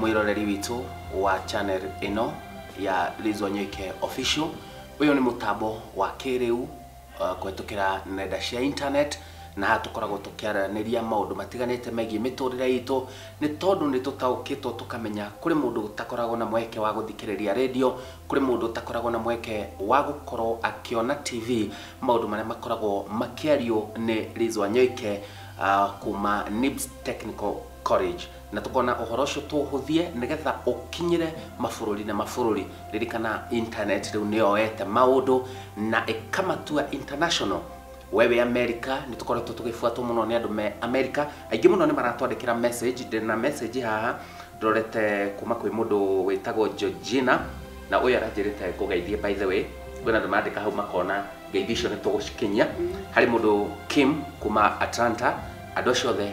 mwĩroreri witũ wa channel ĩno ya Liz Wanyoike Official. Ũyũ nĩ mũtambo wa kĩrĩu uh, kũhetũkĩra nenda cia internet na haha tũkoragwo tũkĩaranĩria maũndũ matiganĩte megiĩ mĩtũrĩre itũ nĩ tondũ nĩ tũtaũkĩtwo tũkamenya kũrĩ mũndũ ũtakoragwo na mweke wa gũthikĩrĩria redio kũrĩ mũndũ ũtakoragwo na mweke wa gũkorwo akĩona tv maũndũ marĩa makoragwo makĩario nĩ Liz Wanyoike uh, kuma Nibs Technical College Na tũkona ũhoro ũcio tũũhũthie nĩgetha ũkinyĩre mabũrũri na mabũrũri. Ririkana internet rĩu nĩyoete maũndũ na ĩkamatua international. Wee wĩ America, nĩtũkoretwo tũgĩbuatwo mũno nĩ andũ me America. Aingĩ mũno nĩmaratwandĩkĩra message. Ndĩ na message haha ndorete kuma kwĩ mũndũ wĩtagwo Georgina, na ũyũ aranjĩrĩte ngũgeithie. By the way, kwĩna andũ marandĩka hau makona ngeithi icio nĩtũgũcikinyia. Harĩ mũndũ Kim kuma Atlanta, andũ acio othe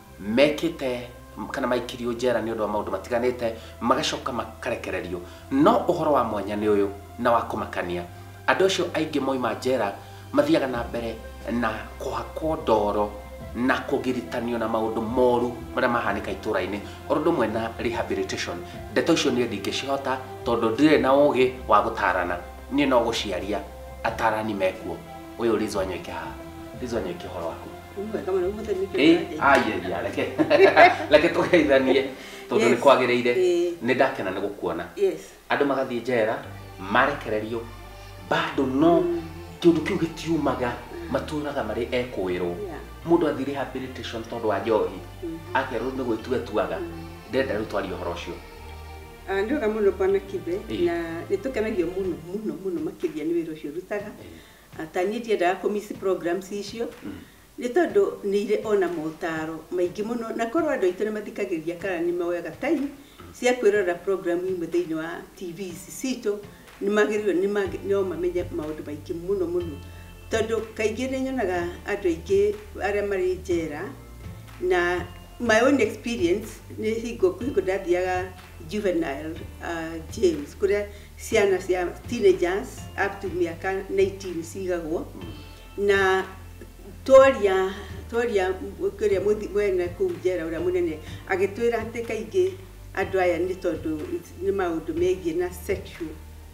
mekĩte kana maikirio njera nĩ ũndũ wa maũndũ matiganĩte magacoka makarekererio. No ũhoro wa mwanya nĩ ũyũ na wa kũmakania, andũ acio aingĩ moima njera mathiaga na mbere na kũhakwo ndoro na kũgiritanio na maũndũ moru marĩa mahanĩka itũra-inĩ oro ũndũ ũmwe na rehabilitation. Ndeto icio niĩ ndingĩcihota tondũ ndirĩ na ũgĩ wa gũtarana, niĩ no gũciaria atarani mekuo. Ũyũ Liz Wanyoike haha, Liz Wanyoike ũhoro waku? Wĩmwega mũno, ũmũthĩ nĩ kĩĩ Eh, ũrathiĩ? ayaya reke reke tũgeithanie tondũ nĩ Yes. kwagĩrĩire Eh. nĩ ndakena nĩ gũkuona Yes. andũ magathiĩ njera marekererio bado no kĩũndũ kĩu gĩtiumaga matũraga marĩ ekũĩrwo Yeah. mũndũ athiĩ rehabilitation tondũ wa njohi akerwo nĩ gwĩtua etuaga ndenda rĩu twarie ũhoro ũcio Ah, nĩ wega mũno bwana kibe Ĩĩ. na nĩ tũkenagio mũno mũno mũno makĩria nĩ wĩra ũcio ũrutaga Ata niĩ ndiendaga kũ miss programs icio, nĩ tondũ nĩ irĩ o na motaaro maingĩ mũno, na korwo andũ aitũ nĩ mathikagĩrĩria kana nĩ moyaga time cia kwĩrorera program imwe thĩinĩ wa TV ici citũ, nĩ magĩrĩirwo nĩ ma no mamenye maũndũ maingĩ mũno mũno. Tondũ kaingĩ nĩ nyonaga andũ aingĩ arĩa marĩ njera, na my own experience nĩ hingo kwĩ hingo ndathiaga Juvenile Jail kũrĩa Ciana cia teenagers up to mĩaka 19 cigagwo na twaria twaria kĩrĩa mũthi- mwene kũu njera ũrĩa mũnene agĩtwĩra atĩ kaingĩ andũ aya nĩ tondũ nĩ maũndũ megiĩ na sexual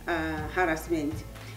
uh, harassment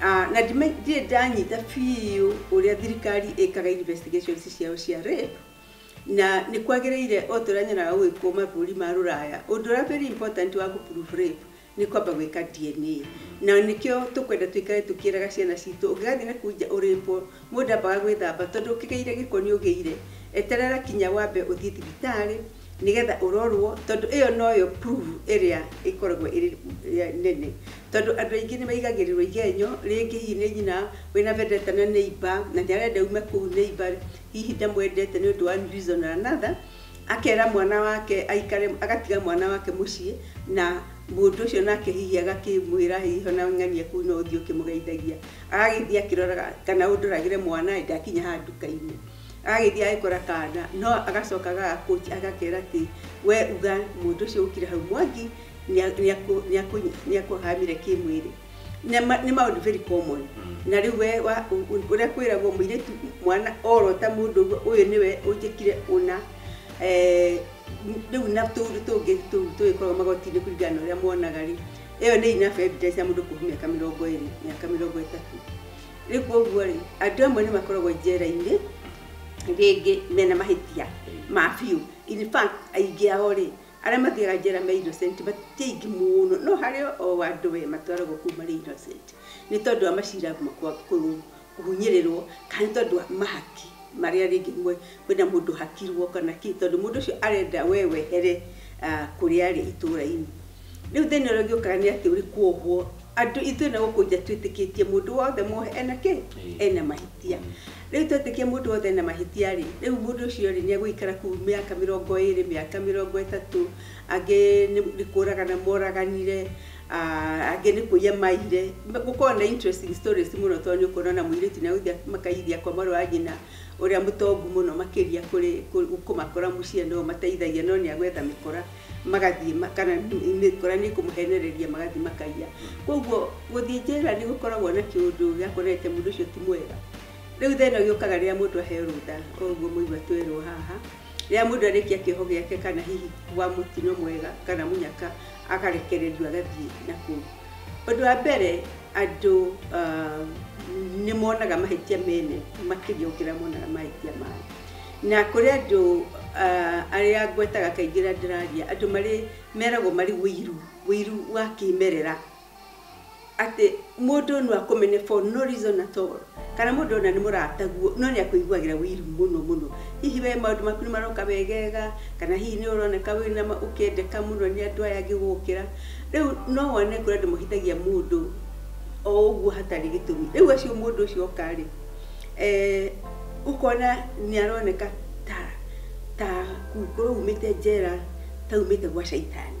Ah, na ndime- ndirĩ ndanyita biũ ũrĩa thirikari ĩkaga investigations ciao cia rape na nĩ kwagĩrĩire o ta ũrĩa nyonaga gũgĩkwo mabũrũri ma rũraya ũndũ ũrĩa very important wa gũprove rape nĩ kwamba gwĩka dna na nĩkĩo tũkwenda tũikare tũkĩraga ciana citũ ũngĩgathiĩ na kũu nja ũrĩpwo mũndũ ambaga gwĩthamba tondũ ũkĩgĩire gĩko nĩ ũgĩire eterera kinya wambe ũthiĩ thibitarĩ nĩgetha ũrorwo tondũ ĩyo noyo proof ĩrĩa ĩkoragwo ĩrĩ nene tondũ andũ aingĩ nĩmaigagĩrĩrwo igenyo rĩngĩ hihi nĩ nyina wĩna vendetta na neighbour na nĩarenda ume kũu neighbour hihi ndamwendete nĩ ũndũ wa one reason or another akera mwana wake aikare agatiga mwana wake mũciĩ na mũndũ ũcio nake hihi agakĩmwĩra hihi ona ng'ania kũu no ũthiĩ ũkĩmũgeithagia agagĩthiĩ akĩroraga kana ũndoragĩre mwana ĩ ndakinya haha nduka-inĩ Agagĩthiĩ agagĩkora kaana, no agacoka aga approach agakera atĩ, we uga mũndũ ũcio ũkire hau Mwangi nĩa- nĩakũ- nĩakũ- nĩakũhahamire kĩmwĩrĩ. Nĩ ma- nĩ maũndũ very common. Na rĩu we wa- ũ- ũ- ũrĩa kwĩragwo mũirĩtu mwana orota mũndũ ũguo, ũyũ nĩwe ũnjĩkire ũna. Eh, m- rĩu na tũũndũ tũngĩ tũu tũgĩkoragwo magoti-inĩ kũringana na ũrĩa monaga-rĩ, ĩyo nĩ enough evidence ya mũndũ kũhumia mĩaka mĩrongo ĩrĩ, mĩaka mĩrongo ĩtatũ. rä u koguo rä andå amwe nä makoragwo njera-inä rĩngĩ mena mahĩtia ma biũ in fact aingĩ ao rĩ arĩa mathiaga njera me innocent matirĩ aingĩ mũno no harĩ o andũ we matwaragwo kũu marĩ innocent nĩ tondũ wa macira ma kwa- kũ- kũhunyĩrĩrwo kana nĩ tondũ wa mahaki marĩa rĩngĩ mwe- Kwĩna mũndũ ũhakirwo kana kĩ, tondũ mũndũ ũcio arenda we wehere kũrĩa arĩ itũũra-inĩ. Rĩu thĩna ũrĩa ũngĩũkaga nĩ atĩ ũrĩ kwohwo. Andũ ithuĩ na gũkũ nja twĩtĩkĩtie mũndũ wothe mwohe ena kĩ? Ena mahĩtia. Rĩu twetĩkia mũndũ wothe ena mahĩtia rĩ, rĩu mũndũ ũcio rĩ, nĩ egũikara kũu mĩaka mĩrongo ĩrĩ, mĩaka mĩrongo ĩtatũ, angĩ nĩ kũũragana moraganire, angĩ nĩ kũiya maiyire. Gũkoragwo na interesting stories mũno tondũ nĩ ũkuona o na mũirĩtu nĩ egũthiĩ makaiyithia kwa mwarĩ wa nyina. Ũrĩa mũtongu mũno makĩria kũrĩ kũmakora mũciĩ nĩwe ũmateithagia no nĩ agwetha mĩkora magathiĩ kana mĩkora nĩ ĩkũmũhenereria magathiĩ makaiya. Kwoguo gũthiĩ njera nĩ gũkoragwo na kĩũndũ gĩa kuonania atĩ mũndũ ũcio ti mwega. Rĩu thĩna ũyũ ũkaga rĩrĩa mũndũ aheo rũtha ta ũguo mũigua twerwo haha, rĩrĩa mũndũ arĩkia kĩoho gĩake kana hihi kwa mũtino mwega kana mũnyaka agarekererio agathiĩ na kũu. Ũndũ wa mbere andũ nĩ monaga mahĩtia mene makĩria gũkĩra monaga mahĩtia mao. Na kũrĩ andũ arĩa ngwetaga kaingĩ rĩrĩa ndĩraria, andũ marĩ meragwo marĩ ũiru, ũiru wa kĩmerera. Atĩ mũndũ no akũmene for no reason at all. Kana mũndũ ũna nĩ mũrataguo no nĩ akũiguagĩra wiru mũno mũno. Hihi we maũndũ maku nĩ maroka wegega, kana hihi nĩ ũroneka wĩ na ma, ũkendeka mũno nĩ andũ aya angĩ gũgũkĩra. Rĩu no wone kũrĩ andũ mahĩtagia mũndũ o ũguo hatarĩ gĩtũmi. Rĩu acio mũndũ ũcio oka rĩ, ũkona nĩ aroneka ta ta kũu kũrĩa aumĩte njera ta aumĩte gwa caitani.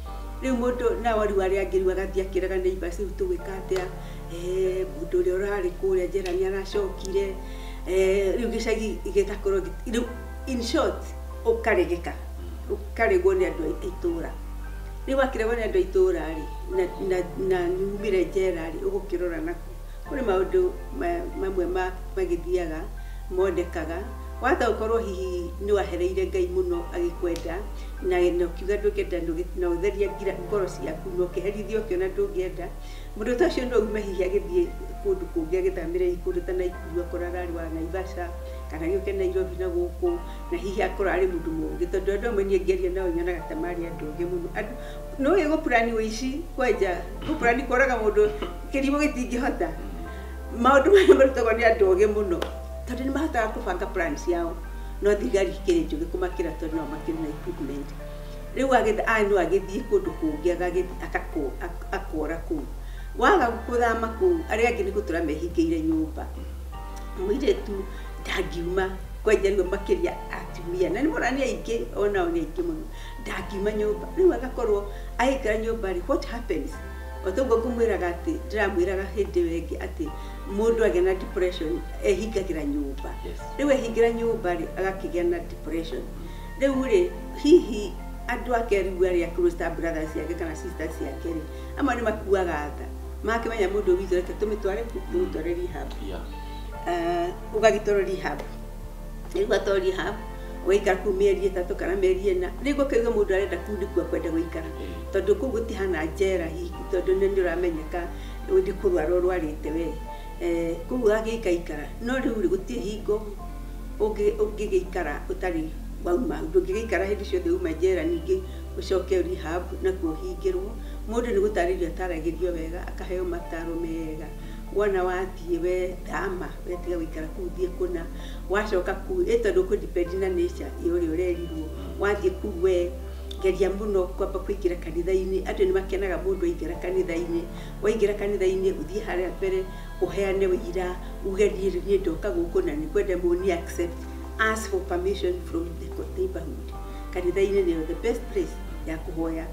Rĩu mũndũ nao rĩu arĩa angĩ rĩu agathiĩ akĩraga neighbor rĩu tũgwĩka atĩa? Eh, mũndũ ũrĩa ũrarĩ kũrĩa njera nĩ aracokire eh, rĩu gĩcagi gĩgakorwo gĩ- rĩu in short ũkaregeka ũkaregwo nĩ andũ a itũũra rĩu wakĩregwo nĩ andũ a itũũra rĩ na- na- na nyumĩre njera rĩ ũgũkĩrora naku kũrĩ maũndũ ma- mamwe ma- magĩthiaga monekaga watha ũkorwo hihi nĩ wahereire ngai mũno agĩkwenda na na ũkiuga ndũngĩenda ndũgĩ- na ũtheria ngira ngoro ciaku na ũkeherithia ũkĩona ndũngĩenda mũndũ ta ũcio no ume hihi agĩthiĩ kũndũ kũngĩ agĩthamĩre hihi kũndũ ta Naikuru akorwo ararĩ wa Naivasha kana gĩũke Nairobi na gũkũ na hihi akorwo arĩ mũndũ mũgĩ tondũ andũ amwe niĩ ngĩaria nao nyonaga ta marĩ andũ ogĩ mũno andũ no ũĩ gũpurani ũici kwenja gũpurani kũraga mũndũ kĩrimũ gĩtingĩhota maũndũ maya marutagwo nĩ andũ ogĩ mũno tondũ nĩ mahotaga kũbanga plan ciao no thigari ikĩrĩ njũgĩ kũmakĩra tondũ nao makĩrĩ na equipment rĩu agĩtha- a- no agĩthiĩ kũndũ kũngĩ agagĩthi- agako- ak- akora kũu waga gũthama kũu arĩa angĩ nĩ gũtũra mehingĩire nyũmba mũirĩtu ndangiuma kwenja rĩu makĩria atumia na nĩ mona nĩ aingĩ onao nĩ aingĩ mũno ndangiuma nyũmba rĩu agakorwo agĩikara nyũmba rĩ what happens otoguo ngũmwĩraga atĩ ndĩramwĩraga hĩndĩ ĩyo ĩngĩ atĩ mũndũ agĩa na depression ehingagĩra nyũmba Yes. Rĩu ehingĩra nyũmba rĩ agakĩgĩa na depression. Rĩu rĩ hihi andũ ake rĩu arĩa close ta brothers ciake kana sisters ciake rĩ amwe nĩ makuaga tha makĩmenya mũndũ witũ reke tũmĩtware ku tũmĩtware rehab Yeah. uh, ũgagĩtwarwo rehab rĩu gatwarwo rehab ũgaikara kuu mĩeri ĩtatũ kana mĩeri ĩna rĩu ũkaiga mũndũ arenda kuu ndĩkuo kwenda gũikara tondũ kuu gũtihana njera hihi tondũ nĩ nĩ ũramenyeka nĩ kũrwara ũrwarĩte wee Eh, kũu agĩikaikara no rĩu rĩ gũtirĩ hingo ũngĩ- ũngĩgĩikara ũtarĩ wauma hau ndũngĩgĩikara hĩndĩ ciothe uma njera ningĩ ũcoke rehab nakuo ũhingĩrwo mũndũ nĩ gũtarĩrio ataragĩrio wega akaheo mataro mega wona wathiĩ we thama we tiga gũikara kũu thiĩ kũna wacoka kũu ĩ tondũ kũ depend na nature ĩ ũrĩa ũrerirwo wathiĩ kũu we geria mũno kwamba kũingĩra kanitha-inĩ andũ nĩ makenaga mũndũ aingĩra kanitha-inĩ Waingĩra kanitha-inĩ ũthiĩ harĩa mbere ũheane ũira uge niĩ rĩu niĩ ndoka gũkũ na nĩ ngwenda mũni accept. Ask for permission from the neighborhood. Kanitha-inĩ nĩyo the best place ya kũhoya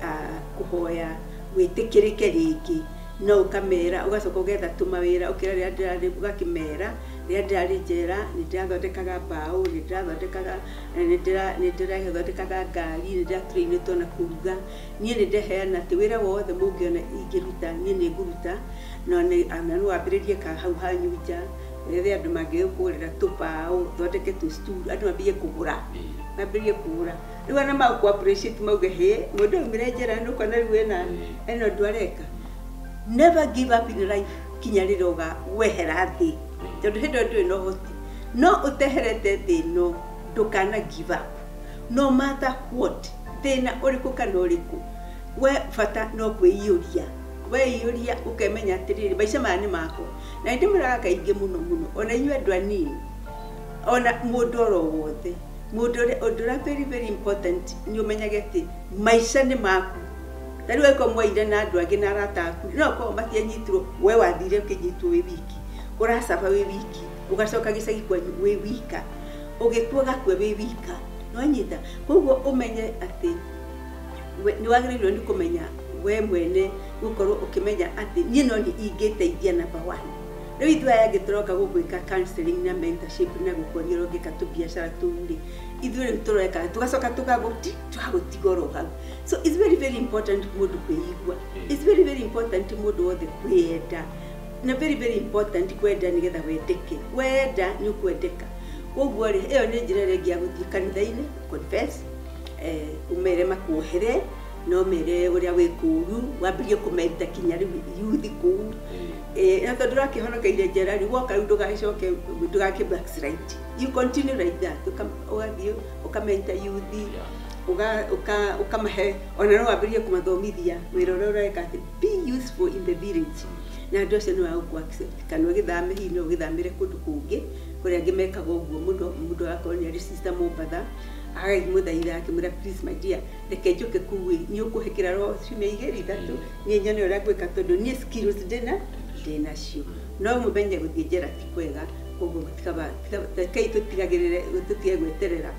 ah, kũhoya wĩtĩkĩrĩke rĩngĩ no ũkamera ũgacoka ũgetha tũmawĩra ũkĩra rĩrĩa ndĩrarĩ ũgakĩmera rĩrĩa ndĩrarĩ njera nĩ ndĩrathondekaga mbaũ nĩ ndĩrathondekaga eh, nĩ ndĩra- nĩ ndĩrathondekaga ngari nĩ ndĩraturainĩtwo na kũruga Niĩ nĩ ndeheana atĩ wĩra wothe mũngĩona ingĩruta, niĩ nĩ ngũruta, na no wambĩrĩrie ka hau hanyu nja, wethe andũ mangĩgũkũgũrĩra tũbaũ, ũthondeke tũ stool, andũ mambĩrĩrie kũgũra, mambĩrĩrie kũgũra. Rĩu ona magũkũ appreciate mauge hĩ, mũndũ ũyũ aumire njera na nĩ ũkuona rĩu ena ena ũndũ areka. Never give up in life kinya rĩrĩa ũga wehera thĩ, tondũ hĩndĩ ĩyo ndũrĩ na ũhoti. No ũteherete thĩ ĩno, ndũkana give up. No matter what, thĩna ũrĩkũ kana ũrĩkũ, we bata no kwĩiyũria, weiyũria ũkemenya atĩrĩrĩ, maica maya nĩ makwa. Na nĩ ndĩmwĩraga kaingĩ mũno mũno, ona inyuĩ andũ anini, ona mũndũ oro wothe, mũndũ ũrĩa, ũndũ ũrĩa very very important nĩ ũmenyage atĩ maica nĩ maku. Ta rĩu angĩkorwo mwaiyire na andũ angĩ na arata aku, no gũkorwo matianyitirwo, we wathire ũkĩnyitwo wĩ wiki, ũra suffer wĩ wiki. ũgacoka gĩcagi kwanyu wĩ wika ũgĩkua gakue wĩ wika nĩwanyita koguo ũmenye atĩ we- nĩwagĩrĩirwo nĩ kũmenya we mwene gũkorwo ũkĩmenya atĩ niĩ no niĩ ingĩteithia number one rĩu ithuĩ aya angĩ tũroka gũgwĩka counseling na mentorship na gũkuonia ũrĩa ũngĩka tũbiacara tũu-rĩ ithuĩ rĩu tũreka tũgacoka tũgagũti tũgagũtiga oro hau so it's very very important mũndũ kwĩigua it's very very important mũndũ wothe kwĩyenda Na very very important kwenda nĩgetha wendeke. Wenda nĩ ũkwendeka. Kwoguo rĩ, ĩyo nĩ njĩra ĩrĩa ĩngĩ ya gũthiĩ kanitha-inĩ, confess, eh, ũmere makuohere, na ũmere ũrĩa wĩ kũũru, wambĩrĩrie kũmenta kinya rĩu yuthi kũu. Eh, na tondũ ũrakĩhonokeire njera rĩ, woka rĩu ndũgagĩcoke, ndũgakĩ backslide. You continue like that. Ũka- Ũgathiĩ, ũkamenta yuthi, ũga- ũka- ũkamahe, ona no wambĩrĩrie kũmathomithia wĩra ũrĩa ũreka atĩ Be useful in the village. Na andũ acio nĩ magũkũ accept kana ũgĩthame hihi no ũgĩthamĩre kũndũ kũngĩ kũrĩa angĩ mekaga ũguo mũno mũndũ agakorwo nĩ arĩ sister Mombatha agakĩmũthaitha akĩmwĩra please my dear reke njũke kũu ĩ nĩ ũkũhe kĩraro ciumia igĩrĩ ithatũ niĩ nyone ũrĩa ngwĩka tondũ niĩ skills ndĩna ndĩnacio no mũmenye gũthiĩ njera ti kwega koguo gũtikaba tika- rekei tũtigagĩrĩre tũtige gweterera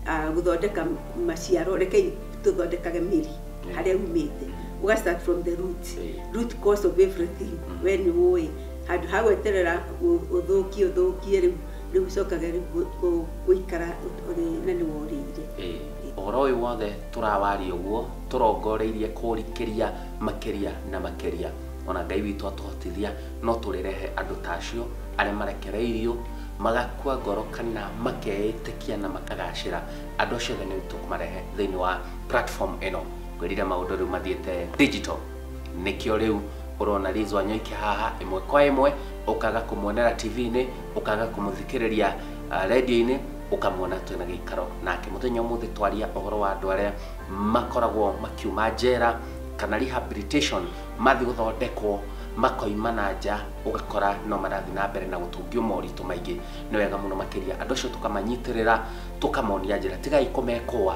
ah, gũthondeka maciaro rekei tũthondekage mĩri harĩa rumĩte uga start from the root Eh. root cause of everything we nĩ ũĩ handũ ha gweterera ũ- ũthũkie ũthũkie rĩu rĩu ũcokage rĩu gũ- gũ- gũikara ũt- ũrĩ na nĩ worĩire Ĩĩ. ũhoro ũyũ wothe tũrawaria ũguo tũrongoreirie kũrikĩria makĩria na makĩria ona ngai witũ atũhotithia no tũrĩrehe andũ ta acio arĩa marekereirio magakua ngoro kana makeĩtĩkia na makagacĩra andũ acio othe nĩ tũkũmarehe thĩinĩ wa platform ĩno ngwĩrire maũndũ rĩu mathiĩte digital nĩkĩo rĩu ũrona Liz Wanyoike haha ĩmwe kwa ĩmwe ũkaga kũmuonera TV-inĩ ũkaga kũmũthikĩrĩria uh, radio-inĩ ũkamuona twĩna gĩikaro nake mũthenya ũmũthĩ twaria ũhoro wa andũ arĩa makoragwo makiuma njera kana rehabilitation mathiĩ gũthondekwo makoima na nja ũgakora no marathiĩ na mbere na gũtũngio moritũ maingĩ nĩ wega mũno makĩria andũ acio tũkamanyitĩrĩra tũkamonia njĩra tigai kũmekũa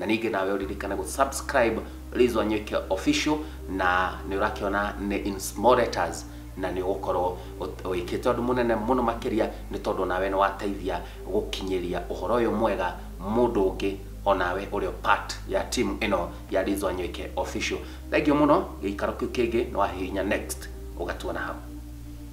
na ningĩ nawe ũririkane gũ subscribe Liz Wanyuike official na nĩ ũrakĩona nĩ in small letters na nĩ ũgũkorwo wĩkĩte ũndũ mũnene mũno makĩria nĩ tondũ nawe nĩ wateithia gũkinyĩria ũhoro ũyũ mwega mũndũ ũngĩ onawe ũrĩ part ya timu ĩno ya Liz Wanyuike official thengio mũno gĩikaro kĩu kĩngĩ nĩ wahihinya next ũgatuona hau